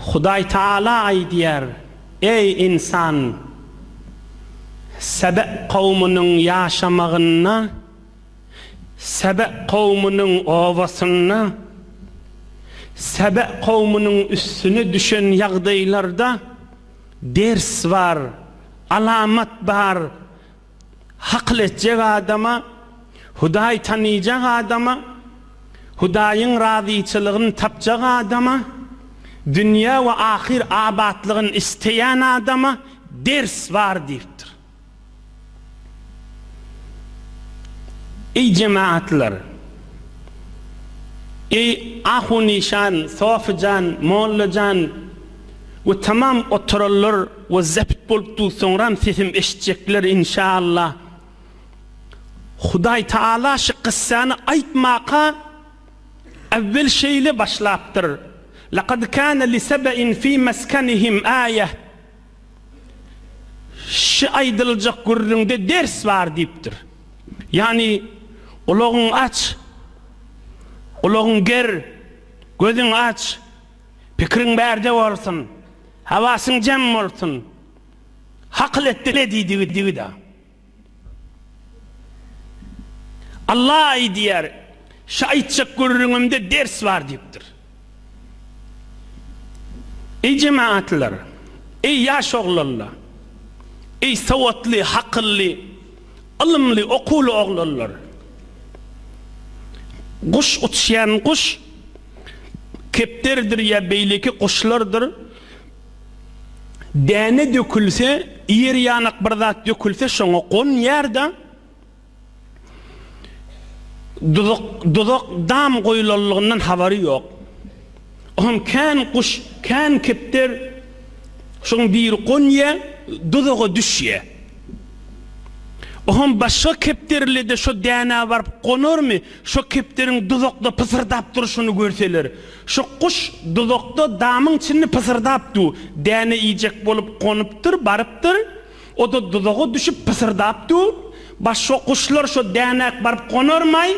Hudaý Taala aýdýar, Eý, ynsan! Sebe kowmunyň ýaşamagynda, Sebe kowmunyň obasynda, Sebe kowmunyň üstüne düşen ýagdaýlarda ders bar, alamat bar, Hakyl etjek adama, Hudaýy tanyjak adama, Hudaýyň razyçylygyny tapjak adama, dünýä we ahyr abatlygyny isleýän adama ders bar diýipdir. Eý jemagatlar! Eý Ahu Nişan, Sofi jan, Molla jan! we tamam oturanlar we zabt bolupdyr soňram sesim eşitjekler inşallah Hudaý taala şu kyssany aýtmaka awwel şeýle başlapdyr Lakad kana li sebe'in fi meskenihim aýeh Şu aýdyljak gürrüňde ders bar diýipdir Ýagny gulagyň aç gulagyň ger gözüň aç Pikiriň bärde bolsun, hawasyň jem bolsun. Hakyl et dile diýdigi digi-da. Alla-aý diýer, şa aýtjak gürrüňimde ders bar diýipdir. Eý jemagatlar, eý ýaş oglanla, eý sowatly, hakylly, ylymly, okuwly oglanlar. Guş uçýan guş. kepderidir ýa beýleki guşlardyr däne dökülse, ýer ýanak bir zat dökülse şoňa gonýar-da, duzak, duzak dam goýulanlygyndan habary ýok. O hem kän guş, kän kepder şoň biri gonýar, duzaga düşýär. O hem başga kepderli-de şo dänä baryp gonarmy, Şo kepderiň duzakda pysyrdap durşuny görseler, Şo guş duzakda damyň çinli pysyrdap du, däne iýjek bolup gonupdyr, barypdyr, o-da duzaga düşüp pysyrdap du, Baş şo guşlar şo dänäk baryp gonarmaý?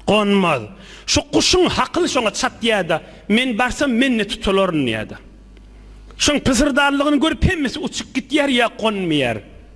Gonmaz. Şo guşuň hakyly şoňa çatýa-da, Men barsam, men-de tutularyn diýýä-de. Şoň pysyrdanlygyny görüp hemmesi uçup gitýär ýa gonmaýar.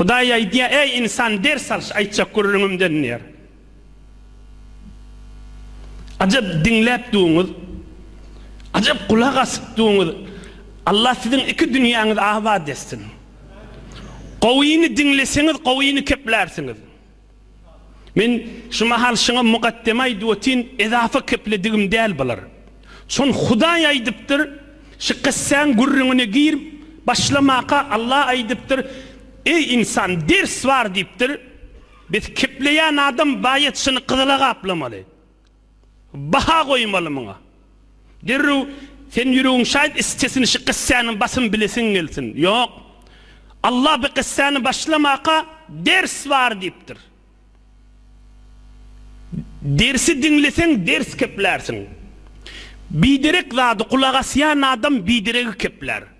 Hudaý aýdýar, Eý, ynsan, ders al, şu aýtjak gürrüňimden diýýär. Ajap diňläp duruňyz, ajap gulak asyp duruňyz. Allah siziň iki dünýäňizi abat etsin. Gowyny diňleseňiz, gowyny keplärsiňiz. Men şu mahal şyňa mugaddeme aýdyp otyn, ezafa kepledigim däl bular. Çün Hudaý aýdypdyr, Şu kyssäň gürrüňine gir, başlamaka Alla aýdypdyr, Eý, ynsan, ders bar diýipdir, Biz kepleýän adam baýat şyny gyzyla gaplamaly. Baha goýmaly muňa. Derrew sen ýüregiň şaýyp issesin şu gyssäni basym bilesiň gelsin. Ýok. Allah bu gyssäni başlamaka ders bar diýipdir. Dersi diňleseň ders keplärsiň. Biderek zady gulak asýan adam bideregi keplär.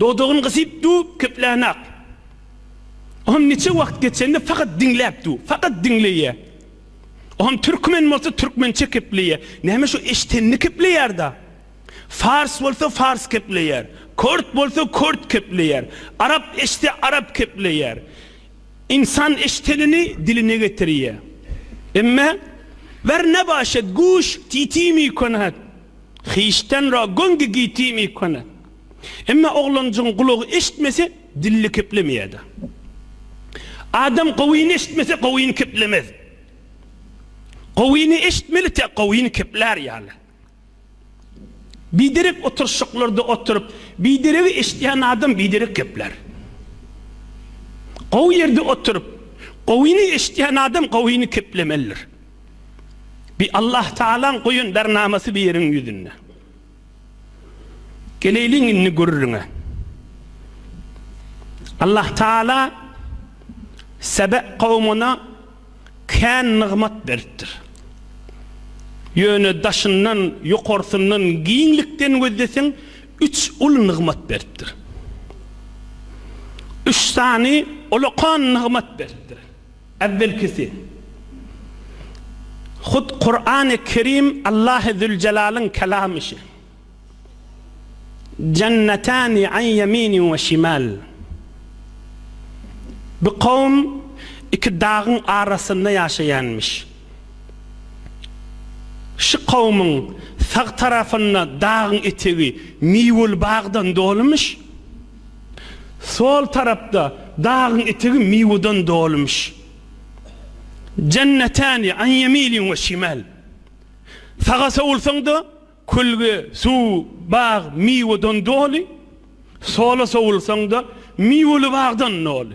Dodagyny gysyp dur, köplänak. Oňa niçe wagt geçende fakat diňläp dur, fakat diňleýä. Oňa türkmen bolsa türkmençe kepleýä. Näme şu eşdenini kepleýärda. Fars bolsa fars kepleýär. Kort bolsa kort kepleýär. Arap eşde arap kepleýär. Insan eşdenini diline getirýä. Emme, Ver nabaşet, guş, titi mi konat. Hiçten ra gongi giti mi kone. Emma oglanjygyň gulagy eşitmese, dili keplemeýärdi. Adam gowyny eşitmese, gowyny keplemez. Gowyny eşitmeli tä gowyny keplär ýaly. Biderek oturyşyklarda oturyp, bideregi eşidýän adam biderek keplär. Gowy ýerde oturyp, gowyny eşidýän adam gowyny keplemelidir. Bi Allahtaalaň goýan bernamasy bu ýeriň ýüzünde. Geleýliň indi gürrüňe. Allahtaala Sebe kowmuna kän nygmat beripdir. Ýöne daşyndan, ýokarsyndan, giňlikden gözleseň, üç uly nygmat beripdir. Üç sany olakan nygmat beripdir. Äwwelkisi, hut Kurany Kerim Allahy Züljelalyn Kelamy şi. Jennetani an ýeminin we şimal. Bir kowum iki dagyň arasynda ýaşaýanmyş. Şi kowumyň sag tarapynda dagyň etegi miweli bagdan dolumyş. Sol tarapda dagyň etegi miweden dolymyş. Jennetäni an ýemilin we şimäl. Saga sowulsaň-da, kölge, suw, bag miweden doly, sola sowulsaň-da, miweli bagdan doly.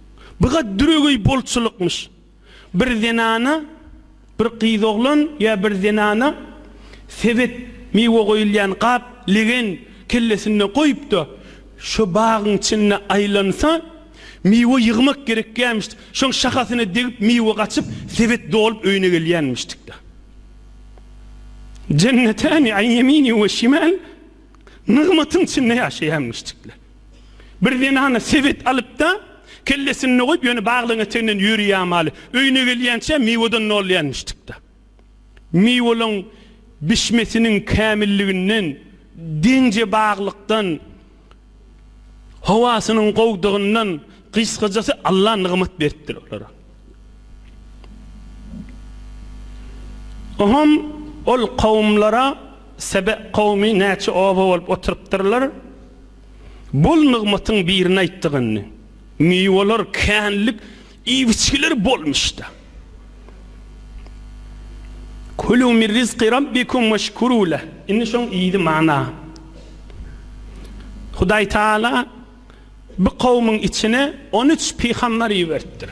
Bu gaty düregeý bolçulykmyş. Bir zenana, bir gyz oglan ýa bir zenana sebet, miwe goýulýan gap, legen kellesinde goýupda, şo bagyň içinde aýlansa, miwe ýygmak gerekýämişdi. Şoň şahasyna degip miwe gaçyp, sebet dolup öýüne gelýänmişdikda. Jennetani an ýemini we şimal, nygmatyň içinde ýaşaýanmyşdykla. Bir zenana sebet alyp-da, kellesinde goýup, ýöne baglygyň eteginden ýöreýämaly. Öýüne gelýänçä miwedan nolýanmişdik-de. Miweliň bişmesiniň kämilliginden, deňje baglykdan, howasynyň gowdygyndan, gysgajasy Alla nygmat beripdir olara. Oňam ol kowumlara Sebe kowumy näçe oba bolup oturypdyrlar, bol nygmatyň birini aýtdygyny, miweler, känlik, iýibiçgiler bolmuşdy. Kulu min rizqi Rabbikum weşkuru leh. Indi şoň ýedi mana. Hudaý Taala. Bu kowumyň içine on üç pygamber iberipdir.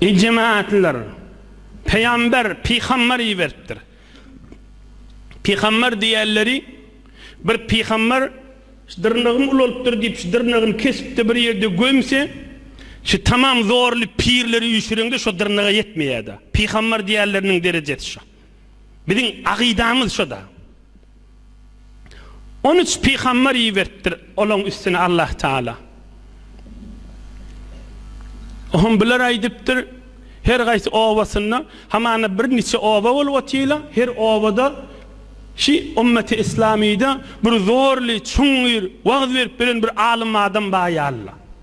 Eý jemagatlar, peýamber, pygamber iberipdir. Pygamber diýerleri bir pygamber dyrnagym ulalypdyr diýip şu dyrnagyny kesipdi bir ýerde gömse, şu tamam zorly pirleri üýşüreňde şo dyrnaga ýetmeýärdi. Pygamber diýerleriniň derejesi şo. Biziň agydamyz şoda. On üç pygambar iberipdir olaň üstüne Allah Taala. Ohm bular aýdypdyr, her gaýsy obasynda, hamana bir niçe oba bolup otyla, her obada şi ummeti islamyda bir zorly, çuňňur wagz berip bilen bir alym adam bar ýaly.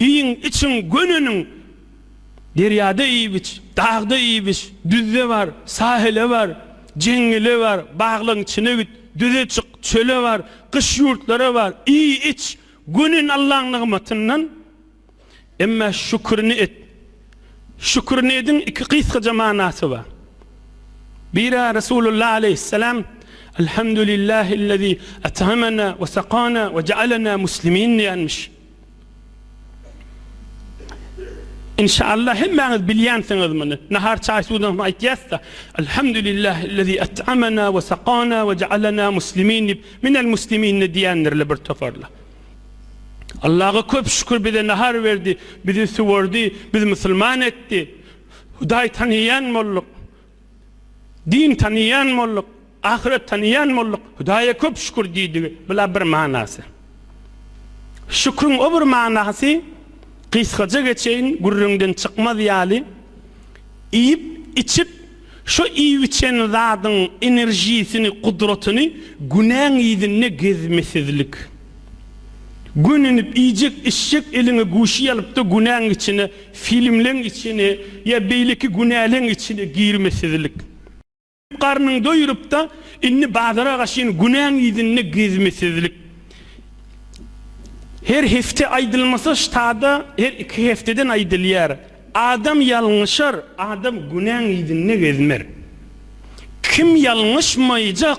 Iýiň, içiň, göneniň! Derýada iýip-iç, dagda iýip-iç, düzde bar, sahile bar, jeňňele bar, baglaryň içine git, düze çyk, çöle bar, gyş ýurtlara bar, iý, iç, gönen Allaň nygmatyndan. Emma şükürini et. Şükürini ediň iki gysgaja manasy bar. Biri Resulullah aleýhissalam, Elhamdulillahillezî et'amena we sakana we je'alena muslimin diýenmiş. Inşallah hemmäňiz bilýänsiňiz muny. Nahar çaý suwdan soň aýtýasda, Elhamdulillahillezî et'amena we sakana we ja'alena muslimin diýip, minel musliminne diýendirler bir toparlar. Allaha köp şükür bize nahar berdi, bizi suwardy, bizi musulman etdi. Hudaý tanýan bolduk. Din tanyýan bolduk, ahyret tanyýan bolduk, Hudaýa köp şükür diýdigi, bu-la bir manasy. Şükriň o bir manasy, gysgaja geçeýin, gürrüňden çykmaz ýaly, iýip, içip, şo iýip-içen zadyň enerjisini, gudratyny günäň yzynda gezmesizlik. Gönenip iýjek içjek eliňe guşy ýalypda günäň içine filmleň içine ýa beýleki günäleň içine girmesizlik. Garnyň doýurypda indi bazara gaşyn günäň yzynda gezmesizlik. Her hepde aýdylmasa ştada her iki hepdeden aýdylýar. Adam ýalňyşar adam günäň yzynda gezmer. Kim ýalňyşmaýjak.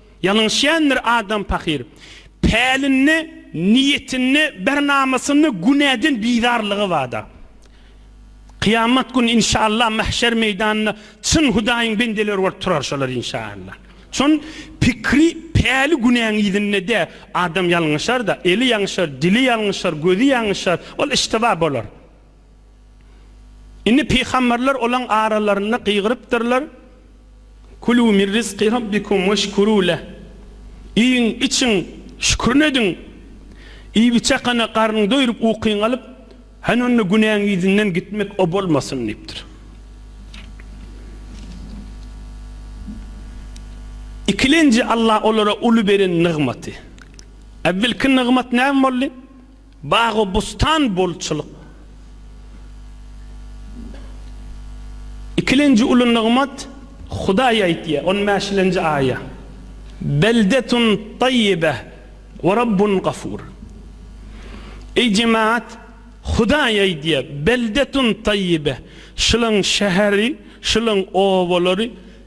Ýalňyşýandyr adam pahyr. Pälinde, niýetinde, bernamasynda günäden bizarlygy barda. Kyýamat güni inşaallah mahşer meýdanynda çyn Hudaýyň bendeleri bolup turar şolar inşaallah. Şon pikri päli günäň yzynda dä, adam ýalňyşar-da, eli ýaňşar, dili ýalňyşar, gözi ýaňyşar, ol iştiba bolar. Indi pygamberler olaň aralarynda gygyrypdyrlar, Kulû min rizki Rabbikum weşkurû leh, Iýiň, içiň, şükrin ediň! Iýibiçakana garnyň doýrup, ukyň alyp, hany onda günäň yzyndan gitmek o bolmasyn! diýipdir. Ikilenji Alla olara uly beren nygmaty. Äwvelki nygmat näme boldy? Bagy-bustan bolçulyk. Ikilenji uly nygmat, Hudaý aýtýar, on bäşilenji aýa, Beldetun taýyba we Rabbun gafur. Eý, jemagat, Hudaý aýdýar, Beldetun taýyba, şulaň şäheri, şulaň obalary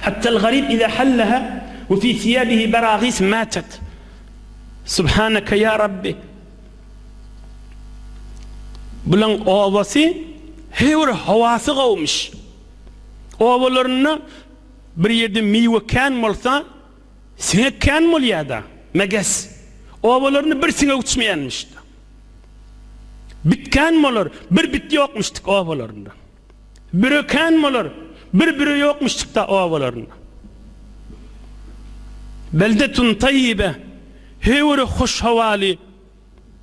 Hatta al-garib iza hallaha we fi siyabihi baragis matat. Subhanaka ya Rabbi. Bulaň obasy her bir howasy gowmyş. Obalarynda bir ýerde miwe kän bolsa, siňek kän bolýar-da, meges. Obalarynda bir siňek uçmaýanmyş. Bit kän bolar, bir bit ýokmuşdyk obalarynda. Bire kän bolar, bir bire ýokmuşçykda obalarynda. Beldetun taýýibe, her biri hoş howaly,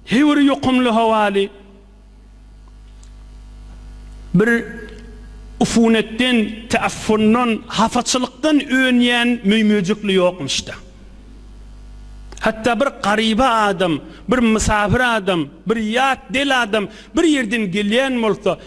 her biri ýokumly howaly. Bir ufunetden, teaffundan, hapaçylykdan önýän möý-möjekli ýokmuşda. Hatda bir garyba adam, bir mysafir adam, bir ýat, del adam bir ýerden gelýän bolsa,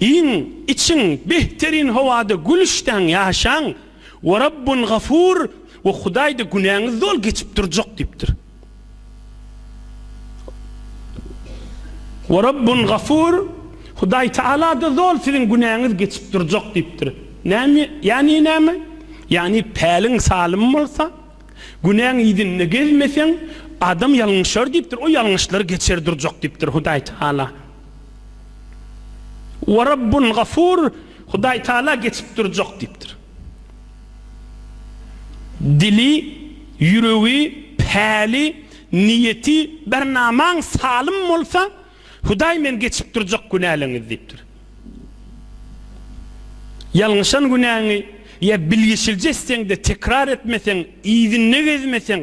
Iýiň, içiň, behterîn howada gülüşdaň ýaşaň, we Rabbun Gafur we Hudaýda günäňiz doly geçip durjak diýipdir. We Rabbun Gafur, Hudaý Tagalada doly siziň günäňiz geçip durjak diýipdir. Näme, ýagny näme? Ýagny päliň salym bolsa, günäň yzynda gezmeseň, adam ýalňyşar diýipdir, o ýalňyşlary geçer durjak diýipdir Hudaý Tagala. Huwa Rabbun Gafur, Hudaý Tagala geçip durjak diýipdir. Dili, ýüregi, päli, niýeti, bernamaň salym bolsa, Hudaý men geçip durjak günäleňizi diýipdir. Ýalňyşan günäňi ýa bilgeşilje etseň-de tekrar etmeseň, yzynda gezmeseň,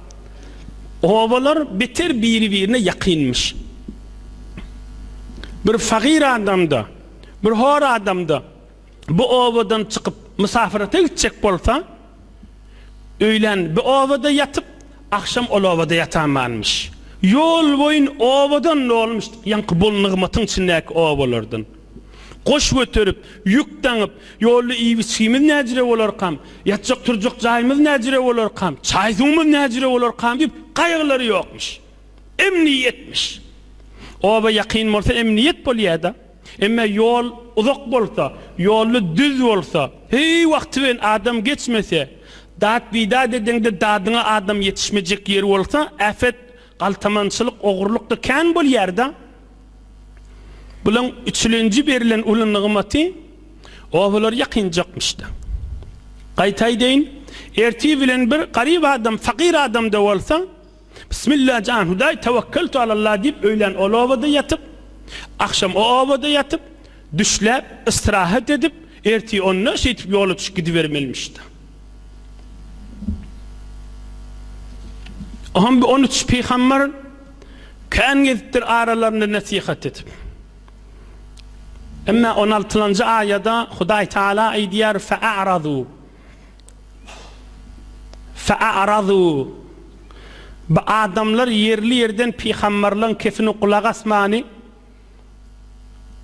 Obalar beter biri-birine ýakynmyş. Bir fagyr adam-da, bir hor adam-da bu obadan çykyp mysafyrata gitjek bolsa, öýlän bu obada ýatyp, agşam ol obada ýatanmanmyş. Ýol boýun obadan dolmuşdyk, ýaňky bol nygmatyň içindäki obalardan. Goş göterip, ýük daňyp, ýolda iýip-içgimiz näjire bolarkam, ýatjak-turjak jaýymyz näjire bolarkam, çaý-suwumyz näjire bolarkam diýip, gaýgylary ýokmuş. Emniýetmiş. Oba ýakyn bolsa emniýet bolýar-da. Emma ýol uzak bolsa, ýolda düz bolsa, heý wagty bilen adam geçmese, dat-bidat edeňde dadyňa adam ýetişmejek ýeri bolsa, äpet Galtamançylyk ogurlykda kän bolýarda. Bulaň üçlenji berilen uly nygmaty obalar ýakynjakmyşda. Gaýta aýdaýyn, ertir bilen bir garyp adam, fakyr adamda bolsa, Bismillah jan Hudaý tawakkaltu alallah diýip öýlän ol obada ýatyp, agşam o obada ýatyp, düşläp, ystrahat edip, Ertir onda şeýtip ýola çykyp gidibermelimiş-de. Oňa bir on üç pygamber kän gezipdir aralarynda nesihat edip. Emma on altylanjy aýada Hudaý Tagala aýdýar, Fe'aradu. Fe'aradu. Bu adamlar ýerli-ýerden pygamberleň kesini gulak asmany,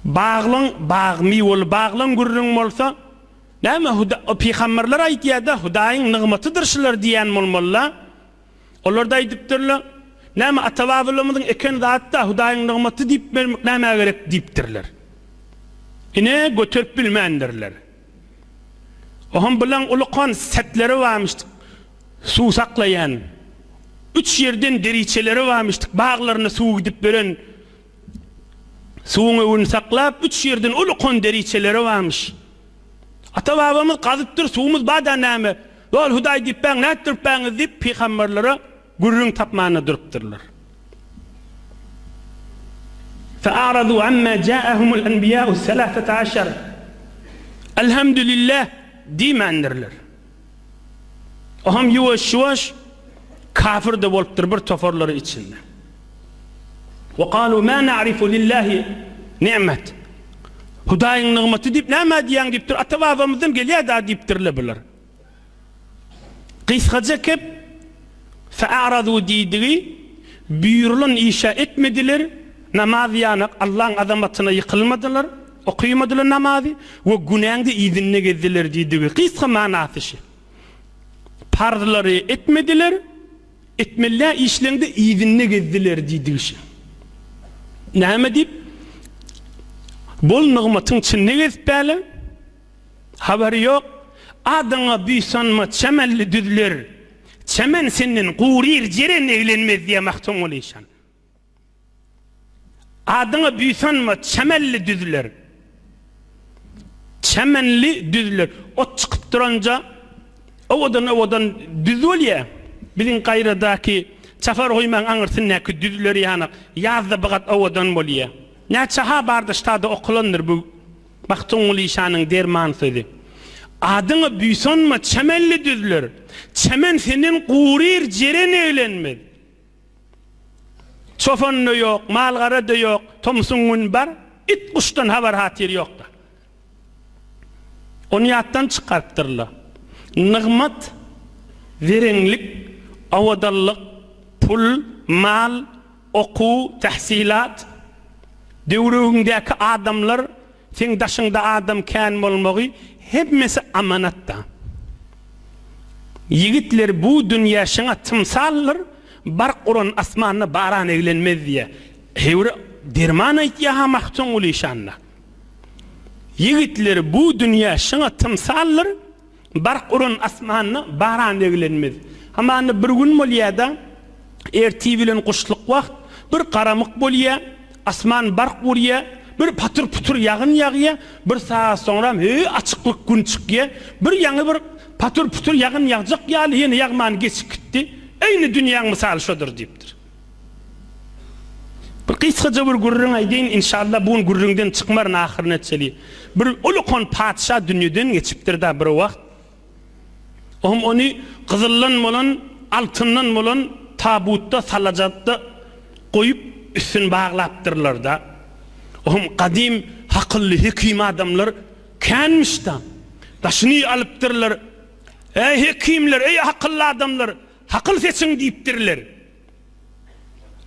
Baglyň bag miweli baglyň gürrüň bolsa näme huda pygamberler aýtýada hudaýyň nygmatydyr şular diýýän bolmalyla olarda aýdypdyrla näme ata babalarymyzyň eken zatda hudaýyň nygmaty diýip bermek nämä gerek diýipdirler ine göterip bilmändirler oham bilen uly kon setleri barmyşdyk suw saklaýan üç ýerden deriçeleri barmyşdyk baglaryna suw gidip beren Suwuň öwüni saklap, üç ýerden uly kon deriçeleri barmyş. Ata-babamyz gazypdyr, suwumyz bada näme, ýol Hudaý diýipbäň, nätdiripbäňiz diýip, pygamberlere gürrüň tapmanda durupdyrlar. Fe aradu amma jaahumul enbiýau selasata aşar. Elhamdülillah diýmändirler. O hem ýuwaş-ýuwaş kafir-de bolupdyr bir toparlary içinde. Ve kalu ma na'rifu lillahi ni'met. Hudaýyň nygmaty diýip näme diýýäň diýipdir. Ata-babamyzdan gelýär-dä diýipdirler bular. Gysgaça kep, fe'aradu diýdigi, buýrulan işe etmediler, namaz ýanak Allaň azamatyna ýykylmadylar. Okymadylar namazy we günäňde yzynda gezdiler diýdigi. Gysga manasy şi. Parzlary etmediler, etmelä işleňde yzynda gezdiler diýdigi şi. Näme diýip, bol nygmatyň çynda gezip bäle? Habary ýok. Adyňa buýsanma çämenli düzler, çämen senden guryr jeren eglenmez diýä Magtymguly şan. Adyňa buýsanma çämenli düzler. Çämenli düzler. Ot çykyp duranja owadan-owadan düz bolýa. Biziň gaýradaky çapar goýmaň aňyrsyndaky düzler ýanak ýazda bigat owadan bolýa. Näçe-ha bardaşdada okulandyr bu Magtymguly şanyň derman sözi. Adyňa buýsanma çämenli düzler. Çämen senden guryr jeren eglenmez. Çopan-da ýok, mal-gara-da ýok, tomsuň gün bar, it-guşdan habar-hatyr ýok-da. Ony ýatdan çykarypdyrlar. Nygmat, zereňlik, owadanlyk, pul, mal, okuw, tähsilat, döwrüňdäki adamlar, Seň daşyňda adam kän bolmagy hemmesi amanatda. Ýigitler bu dünýä şyňa tymsaldyr, bark uran asmanda baran eglenmez diýýä. Heýwre derman aýtýa-ha Magtymguly şanda. Ýigitler bu dünýä şyňa tymsaldyr. Bark uran asmanda baran eglenmez. Hamanda bir gün bolýar-da, ertir bilen guşluk wagt, bir garamyk bolýar, asman bark urýar, bir patyr-putyr ýagyn ýagýar, bir sagat soňram hü, açyklyk, gün çykýar, bir ýaňy bir patyr-putyr ýagyn ýagjak ýaly ýene ýagman geçip gitdi. Eýni dünýäň mysaly şodur diýipdir. Bir gysgaja bir gürrüň aýdaýyn, inşallah bu gün gürrüňden çykmaryn ahyryny etjeli. Bir uly kon patyşa dünýeden geçipdir-da bir wagt. O hem ony gyzyldan bolan, altyndan bolan tabutda, salajatda goýup, üstüni baglapdyrlar-da. O hem gadym hakylly, hekim adamlar känmiş-da. Daşyny alypdyrlar. Äý hekimler, äý hakylly adamlar! Hakyl seçiň diýipdirler.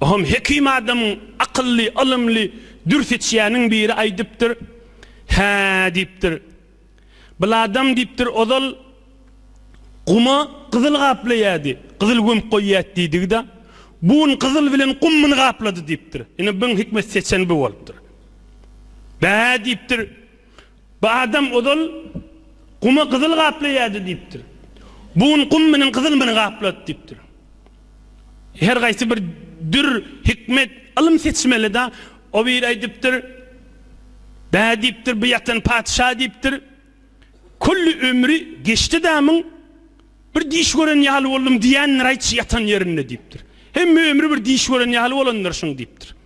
Ohum hekim adamyň akylly, ylymly, dür seçýäniň biri aýdypdyr. Hä, diýipdir. Bul adam diýipdir, ozal guma gyzyl gaplaýardy, gyzyl gömüp goýýardy diýdigi-de, bu gün gyzyl bilen gum muny gaplady diýipdir. Ine, biň hikmet seçen bu bolupdyr. Bä, diýipdir. Bu adam ozal Guma gyzyl gaplaýardy diýipdir. Bu gün Gum meniň gyzylymyny gaplady diýipdir. Her gaýsy bir dür, hikmet, ylym seçmeli-da. O biri aýdypdyr, Bä diýipdir, bu ýatan patyşa diýipdir, Külli ömri geçdi damyň, bir diş gören ýaly boldum diýendir-aýçy ýatan ýerinde diýipdir. Hemme ömri bir diş gören ýaly bolandyr şuň diýipdir.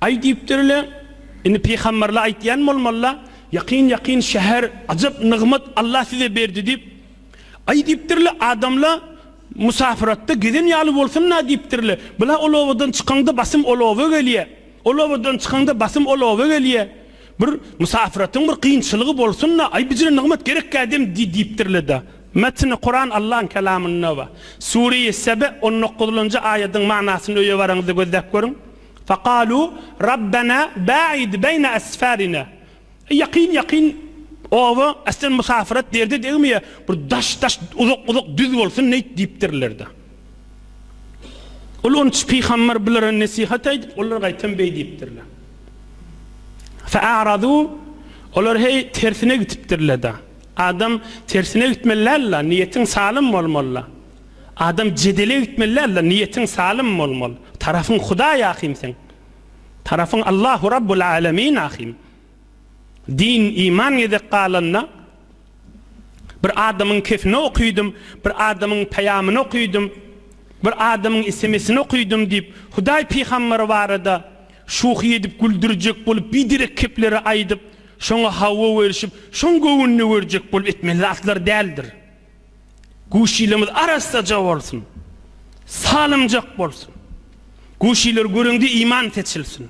Aý diýipdir-le, indi pygamberle aýtýan bolmaly-la, ýakyn-ýakyn şäher, ajap nygmat Allah size berdi diýip. Aý diýipdir-le, adamla musapyratda gezen ýaly bolsun-a diýipdir-le, bula ol obadan çykaňda basym ol oba gelýä, ol obadan çykaňda basym ol oba gelýä, bir musapyratyň bir kynçylygy bolsun-a, aý bijre nygmat gerek-ä dem diýipdir-le-da. Metni Kuran Allahyň Kelamynda we Sure-i Sebe on dokuzynjy aýadyň manysyny öýe baraňyzda gözläp görüň. Fakalu Rabbena ba'id beýne esfarina. Eý ýakyn ýakyn oba äsden musafir et derde degmeýä bir daş daş uzak uzak düz bolsun neýt diýipdirlerde. Ol onç pygamber bulara nesihat aýdyp olar gaýtam beý diýipdirler. Fa'aradu olar heý tersine gitipdirlerde. Adam tersine gitmeli däl-la, niýetiň salym bolmaly-la. Adam jedele gitmeli däl-la, niýetiň salym bolmaly. Tarapyň Hudaý ahym seň. Tarapyň Allahu Rabbul Alemin ahym. Din, iman gezek galanda, bir adamyň kefini okydym, bir adamyň peýamyny okydym, bir adamyň esemesini okydym diýip, Hudaý pygamber barada şuhy edip güldürjek bolup biderek kepleri aýdyp, Şoňa hawa berişip, şoň göwnüne görjek bolup etmeli zatlar däldir. Guşilimiz arassaja bolsun. Salymjak bolsun. Guşiler göreňde iman seçilsin.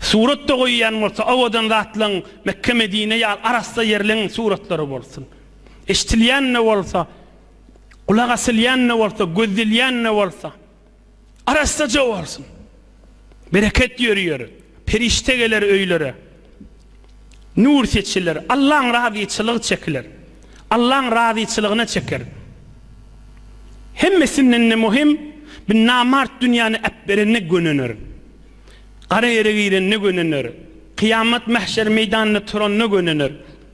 Surat-da goýýan bolsa owadan zatlaň Mekge-Medine ýaly arassa ýerleň suratlary bolsun. Eşdilýän-de bolsa, gulak asylýan-da bolsa, gözdelýän-de bolsa. Arassaja bolsun. Bereket ýörüýer. Perişde geler öýlere. Nur seçiler. Allaň razyçylygy çekiler. Allaň razyçylygyna çeker. Hemmesinden-de möhüm, bu namart dünýäni äpberende gönener. Gara ýere girende gönener. Kyýamat mähşer meýdanynda turanda gönener.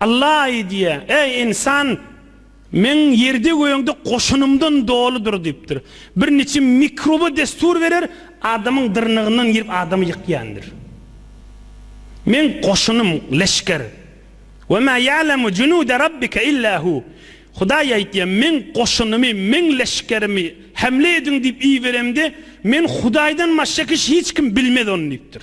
Alla aýdýar, Eý, ynsan! Meň ýerde-gögde goşunymdan doludyr diýipdir. Bir niçe mikroba dessur berer, adamyň dyrnagyndan girip adamy ýykýandyr. Meň goşunym, leşger. Ve ma ya'lemu junude Rabbike illa hu. Hudaý aýtýar, Meň goşunymy, Meň leşgerimi hemle ediň diýip iberemde, Men Hudaýdan başga kişi hiç kim bilmez ony diýipdir.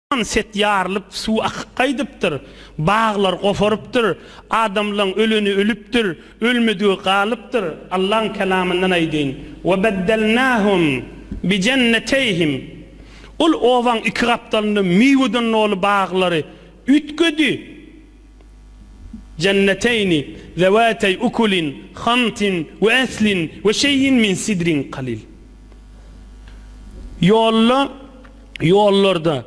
Ýan set ýarylyp, suw akyp gaýdypdyr, baglar goparypdyr, adamlaň öleni ölüpdir, ölmedigi galypdyr, Allaň kelamyndan aýdyn, Ve beddelnahum bi jenneteýhim, Ol obaň iki gapdalynda miweden doly baglary üýtgedi, Jenneteýni zewateý ukulin hantin ve aslin ve şeýin min sidrin kalil. Ýolda. ýollarda,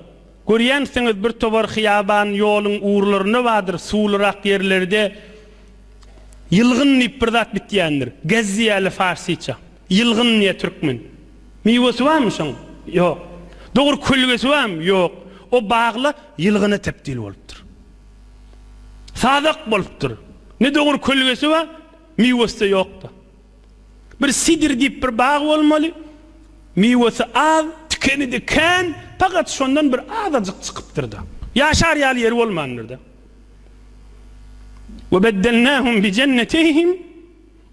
görýänsiňiz, bir tobar hyýaban ýoluň urlarynda bardyr, suwlurak ýerlerde ýylgyn diýip bir zat bitýändir. Gez diýýärler farsça. Ýylgyn diýýär türkmen. Miwesi barmy şoň? Ýok. Dogry kölgesi barmy? Ýok. O bagla ýylgyna tebdil bolupdyr. Sazak bolupdyr. Ne dogry kölgesi bar, miwesi-de ýokdur. Bir sidr diýip bir bag bolmaly. Miwesi az, tikeni-de kän, pagat şondan bir azajyk çykypdyr-da. Ýaşar ýaly ýeri bolmandyr-da. We beddelnähum bi jenneteýhim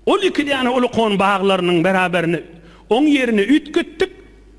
Ol iki däne ulukon baglarynyň beraberine oň ýerini üýtgetdik.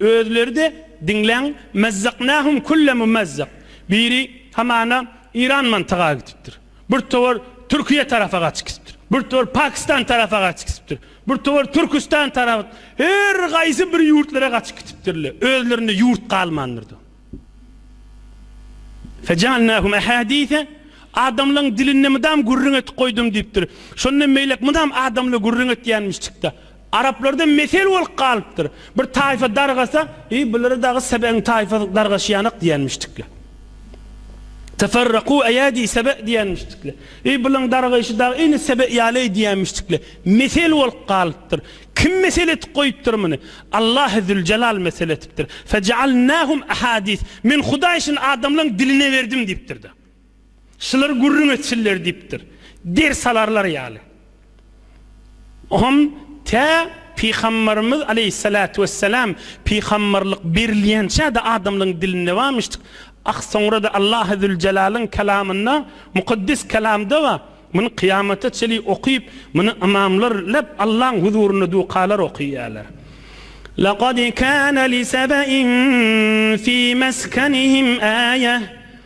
Özleri-de, diňläň, Mazzaknahum kulla mumazzak. Biri hamana Iran mantyga gitipdir. Bir towar Türkiýe tarapa gaçyp gitipdir. Bir towar Pakistan tarapa gaçyp gitipdir. Bir towar Türküstan tarap. Her gaýsy bir ýurtlara gaçyp gitipdirle, özlerinde ýurt galmandyr-da. Fejalnahum ahadise, Adamlaň dilinde mydam gürrüň etip goýdum diýipdir. Şonda meýlek mydam adamla gürrüň etýänmişçik-de. Araplarda mesel bolup galypdyr, bir taýfa dargasa, Eý, bulara dagy Sebegiň taýfasy dargaşýanak diýenmişdikler. Teferrakû eýädî Sebe diýenmişdikler. Eý, bularyň dargaýşy dagy ine Sebe ýaly-eý diýenmişdikler. Mesel bolup galypdyr. Kim mesel etip goýupdyr muny? Allahy Züljelal mesel etipdir. Fejealnâhum ehâdîs. Men Hudaý şuny adamlaryň diline berdim diýipdir-de. Şular gürrüň etsinler diýipdir. Ders alarlar ýaly. Oňam tä Pygambarymyz aleýhissalatu wessalam pygambarlyk berilýänçä-de adamlaryň dilinde barmyşdyk. Ah, soňra-da Allahy züljelalyn kelamynda, mukaddes kelamda bar. Muny kyýamata çenli okyp, muny ymamlar leb Allaň huzurynda dukalar okyýarlar. Lakad kana li Sebe'in fi meskenihim aýe.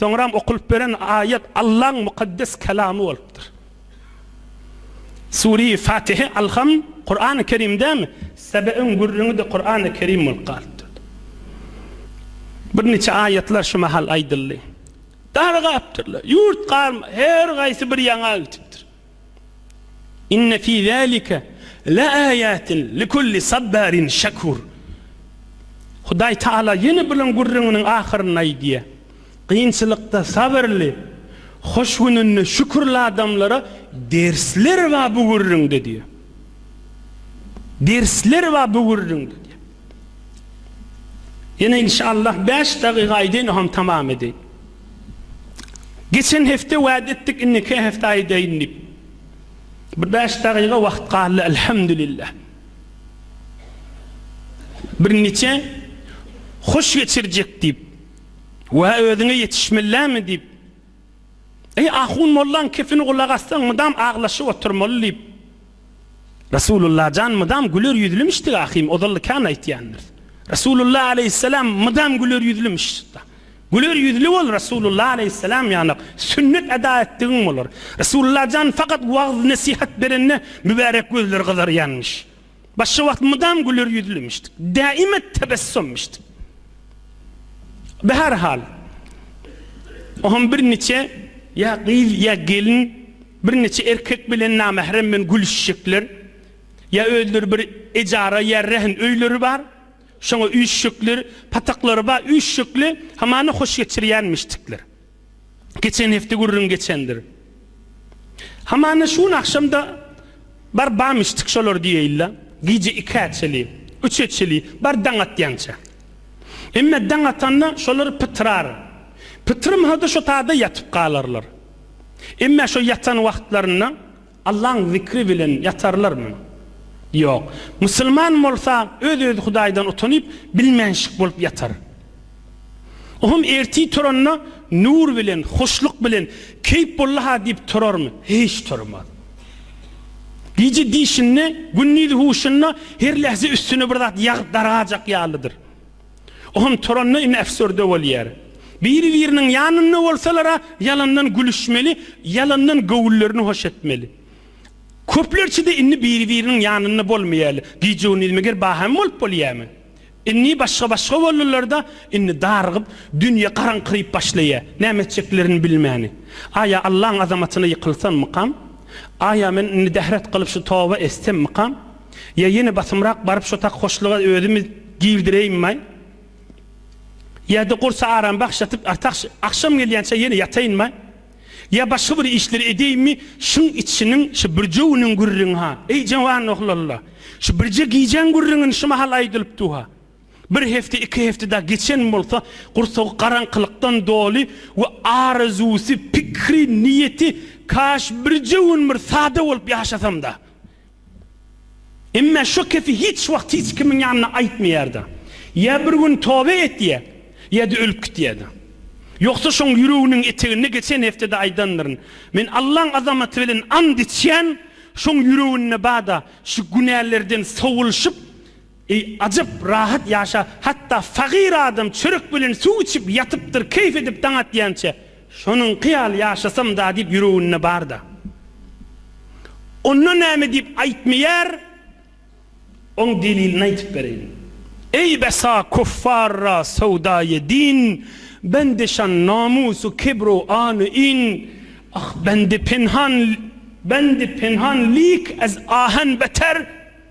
Soňram okulyp beren aýat Allaň mukaddes Kalamy bolupdyr. Sure-i Fatihe Alham Kur'an-y Kerim dämi? Sebe'in gürrüňi-de Kur'an-y Kerim bolup galypdyr. Birniçe aýatlar şu mahal aýdyldy. Dargapdyrlar. Ýurt galma, her gaýsy bir ýaňa gitipdir. Inne fi zalika laaýatin likulli sabbarin şakur. Hudaý Taala ýene bilen gürrüňiniň ahyrynda aýdýar, Kynçylykda sabyrly, hoş gününde şükürli adamlara dersler bar bu gürrüňde diýýär. Dersler bar bu gürrüňde diýýär. Ýene inşallah bäş dagyga aýdaýyn oham tamam edeýin. Geçen hepde wada etdik indiki hepde aýdaýyn diýip. Bir bäş dagyga wagt galdy Elhamdülillah. Bir niçe hoş geçirjek diýip. Wa özüňe ýetişmellämi diýip. Eý ahun mollaň kepini gulak assaň mydam aglaşyp oturmaly diýip. Resulullah jan mydam güler ýüzlümişdi ahim ozalda kän aýtýandyr. Resulullah aleyhisselam mydam güler ýüzlümiş. Güler ýüzlü bol Resulullah aleyhisselam ýanak sünnet eda etdigiň bolar. Resulullah jan fakat wagz nesihat berende mübärek gözleri gyzarýanmyş. Başga wagt mydam güler ýüzlümiş. Daima tebessummiş. Be her hal. Ohm bir niçe ya gyz ya gelin Birnäçe erkek bilen namähremmen gülüşjekler. Ýa özleri bir ejara ýa rehn öýleri bar. Şoňa üýşjekler. Pataklary bar üýşjekli. Hamana hoş geçirýänmişdikler. Geçen hepde gürrüň geçendir. Hamana şu gün agşam-da bar bamyşdyk şolar diýeýin-le. Gije ikä çeli, üçe çeli bar daň atýança. Emme daň atanda şolar pytyrar. Pytyrmasa-da şo tada ýatyp galarlar. Emma şo ýatan wagtlarynda Allaň zikri bilen ýatarlarmy? Ýok. Musulman bolsa öz-özi Hudaýdan utanyp, bilmänşik bolup ýatar. Ohm ertir turanda nur bilen, hoşluk bilen, keýp boldy-ha diýip turarmy? Hiç turmaz. Gije diýşinde, gündiz huşunda her lähze üstüne bir zat ýagyp dargajak ýalydyr. Oňa turanda indi äfsürde bolýar. Biri-biriniň ýanynda bolsalar-a ýalandan gülüşmeli, ýalandan göwünlerini hoş etmeli. Köplerçe-de indi biri-biriniň ýanynda bolmaýarlar. Gije-gündiz meger bahana bolup bolýarmy? Indi başga-başga boldular-da, indi darygyp, dünýe garaňkyryp başlaýar. Näme etjeklerini bilmäni. Aý-a Allaň azamatyna ýykylsammykam? Aý-a men indi dähret kylyp şu toba etsemmikam? Ýa ýene basymrak baryp şo takhoşlyga özümi girdireýinmaý? Ýa-da gursa aram bagşlatyp artahş agşam gelýänçä ýene ýataýynmaý? Ýa başga bir işleri edýeýinmi şyň içiniň şu birjewiniň gürrüňi-ha, eý jawan oglalla, şu birje gijäň gürrüňini şu mahal aýdylypdu-ha. Bir hepde, iki hepde dagy geçen bolsa, gursagy garaňkylykdan doly we arazusy, pikri, niýeti, Kaş birje gün bir sada bolup ýaşasam-da! Emma şu kepi hiç wagt hiç kimiň ýanynda aýtmaýardy. Ýa bir gün toba etýär, ýa-da ölüp gitýärdi. Ýogsa şoň ýüreginiň eteginde geçen hepdede aýdandyryn. Men Allaň azamaty bilen ant içýän, şoň ýüreginde bada şu günälerden sowulşyp, Eý, ajap rahat ýaşa, hatda fagyr adam çörek bilen suw içip ýatypdyr, keýp edip daň atýança, şonuňky ýaly ýaşasam-da diýip ýüreginde bar-da. Onda näme diýip aýtmaýar, oň delilini aýtyp bereýin. Eý, besa kuffarra sowdaýy din, bende şan namusu kibru anu in, ah, bende penhan, bende penhan lik ez ahan beter,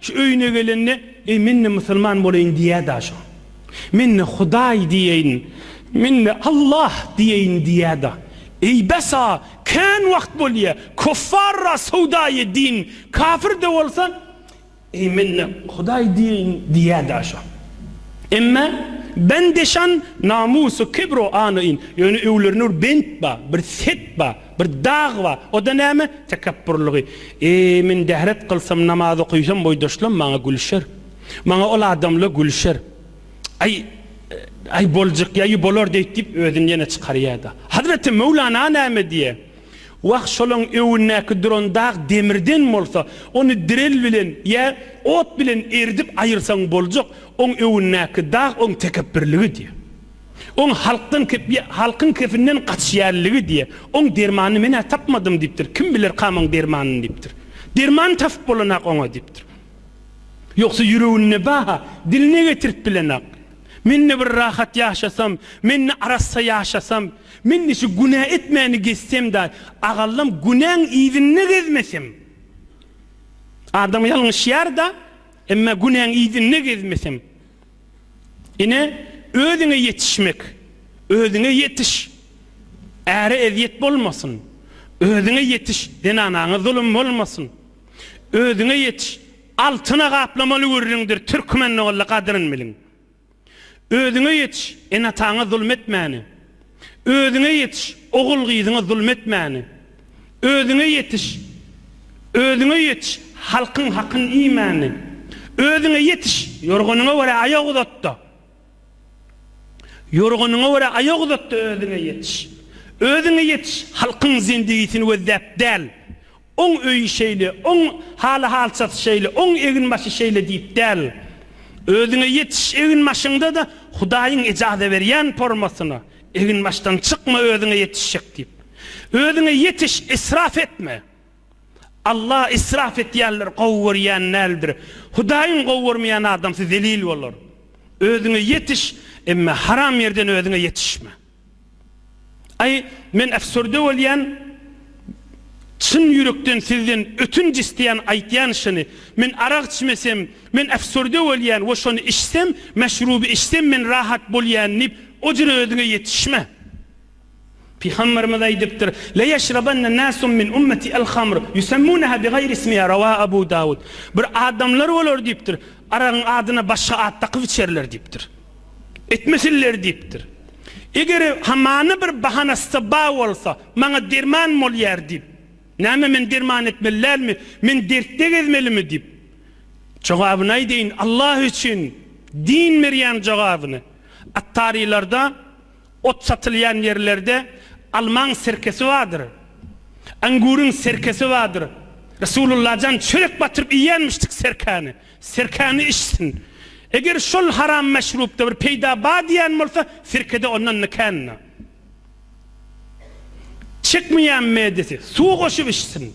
Şu öýüne gelende, Eý, men-de musulman bolaýyn diýýä-dä şo. Men-de Hudaý diýeýin, men-de Allah diýeýin diýýä-dä. Eý, bes-a, kän wagt bolýa, kuffarra sowdaýy din, kafir-de bolsa, Eý, men-de Hudaý diýeýin diýýä-dä şo. Emme, bende şan namus-u kibr-u anyn, ýöne öýlerinde bir bent bar, bir set bar. Bir dag bar, o-da näme? Tekepburlygy. Eý, men dehret kylsam, namaz okaýsam, boýdaşlam maňa gülşer. Maňa ol adamla gülşer. Aý, aý, boljak ýaýy bolar deýt diýip, özüni ýene çykarýa-da. Hazreti Möwlana näme diýe? Wah, şolaň öwündäki duran dag demirden bolsa, ony direl bilen ýa ot bilen eridip aýyrsaň boljak, oň öwündäki dag oň tekepburlygy diýe. Oň halkdan halkyň kefinden gaçýanligi diýe. Oň dermanyny men-ä tapmadym diýipdir. Kim bilerkam oň dermanyny diýipdir. Derman tapyp bolanok oňa diýipdir. Ýogsa ýüreginde ba-ha, diline getirip bilenok. Men-de bir rahat ýaşasam, men-de arassa ýaşasam, men-de şu günä etmäni gezsem-da, agallam günäň yzynda gezmesem. Adam ýalňyşýar-da, emma günäň yzynda gezmesem. Ine, özüňe ýetişmek, özüňe ýetiş, äre ezýet bolmasyn, özüňe ýetiş, zenanaňa zulum bolmasyn, özüňe ýetiş, altyna gaplamaly gürrüňdir, türkmen ogly gadryn biliň. Özüňe ýetiş, ene-ataňa zulum etmäni. Özüňe ýetiş, ogul-gyzyňa zulum etmäni. Özüňe ýetiş, özüňe ýetiş, halkyň hakyny iýmäni. Özüňe ýetiş, ýorganyňa görä aýak uzat-da. Ýorganyňa görä aýak uzat-da özüňe ýetiş. Özüňe ýetiş, halkyň zendigisini gözläp däl, Oň öýi şeýle, oň haly-halçasy şeýle, oň eginbaşy şeýle diýip däl. Özüňe ýetiş, eginbaşyňda-da Hudaýyň ejaza berýän pormasyna, eginbaşdan çykma özüňe ýetişjek diýip. Özüňe ýetiş, israf etme. Alla israf edýänleri gowy görýän däldir. Hudaýyň gowy görmeýän adamsy zelil bolar. Özüňe ýetiş, emma haram ýerden özüňe ýetişme. Aý men äfsürde bolýan çyn ýürekden sizden ötünç isleýän aýtýan şyny men arak içmesem men äfsürde bolýan we şony içsem meşruby içsem men rahat bolýan diýip ojra özüňe ýetişme. Pygamberimiz aýdypdyr, La ýeşrabanne nasun min ummeti al hamr ýusemmuneha bi gaýri ismiha rawa Abu Dawud, bir adamlar bolar diýipdir aragyň adyna başga at dakyp içerler diýipdir. Etmesinler diýipdir. Eger hamana bir bahanasy bar bolsa, maňa derman bolýar diýip, näme men derman etmeli dälmi, men dertde gezmelimi diýip. Jogabyny aýdaýyn, Allah üçin deýin berýän jogabyny. Attarylarda ot satylýan ýerlerde almaň sirkesi bardyr. Anguryň sirkesi bardyr. Resulullah jan çörek batyryp iýýänmişdik sirkäni. Sirkäni içsin. Eger şol haram meşrupda bir peýda bar diýýän bolsa, sirkede ondan ne känine. Çekmeýän medesi suw goşup içsin.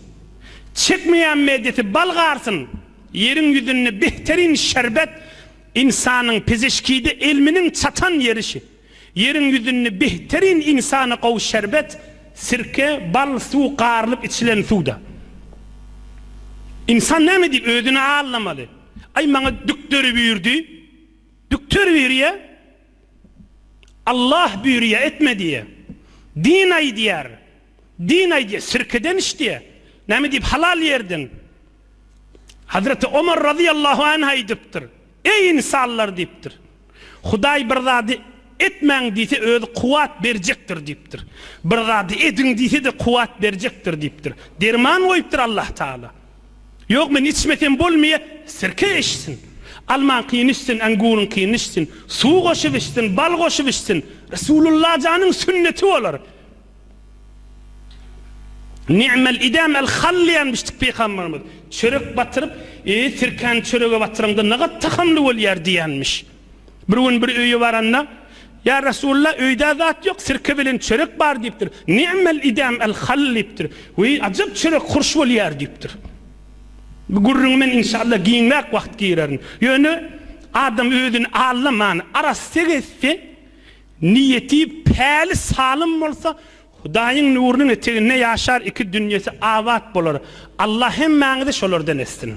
Çekmeýän medesi bal garsyn. Ýeriň ýüzünde behteryn şerbet, ynsanyň pizişkide elminiň çatan ýeri şi. Ýeriň ýüzünde behterin ynsana gowy şerbet, sirke, bal, suw garylyp içilen suwda. Ynsan näme diýip özüni aldamaly? Aý maňa dükderi buyurdy. Dükter buyurýa. Allah buyurýa etme diýýä. Din aýdýar. Din aýdýa sirkeden iç diýýä. Näme diýip halal ýerden. Hazreti Omar razyýallahu anh aýdypdyr. Eý ynsanlar diýipdir. Hudaý bir zady Etmäň diýse özi kuwwat berjekdir diýipdir. Bir zady ediň diýse-de kuwwat berjekdir diýipdir. Derman goýupdyr Allahtagala. Ýok men içmesem bolmaýa, sirke içsin. Almaňkyny içsin, äňgüriňkini içsin. Suw goşup içsin, bal goşup içsin. Resulullah janyň sünneti bolar. Ni'mel idam el hall diýen biçdik pygamberimiz. Çörek batyryp, e, sirkäni çörege batyraňda nagat tahamly bolýar diýenmiş. Bir gün bir öýe baranda, Ýa Resulullah, öýdä zat ýok, sirke bilen çörek bar diýipdir. Ni'mel idam el hall diýipdir. Weý, ajap çörek hurş bolýar diýipdir. Bu gürrüňi men inşallah giňräk wagt girerin. Ýöne adam özüni allaman, arassa gezse, Niýeti päli salym bolsa Hudaýyň nurunyň eteginde ýaşar iki dünýesi abat bolar Allah hemmäňizi şolardan etsin.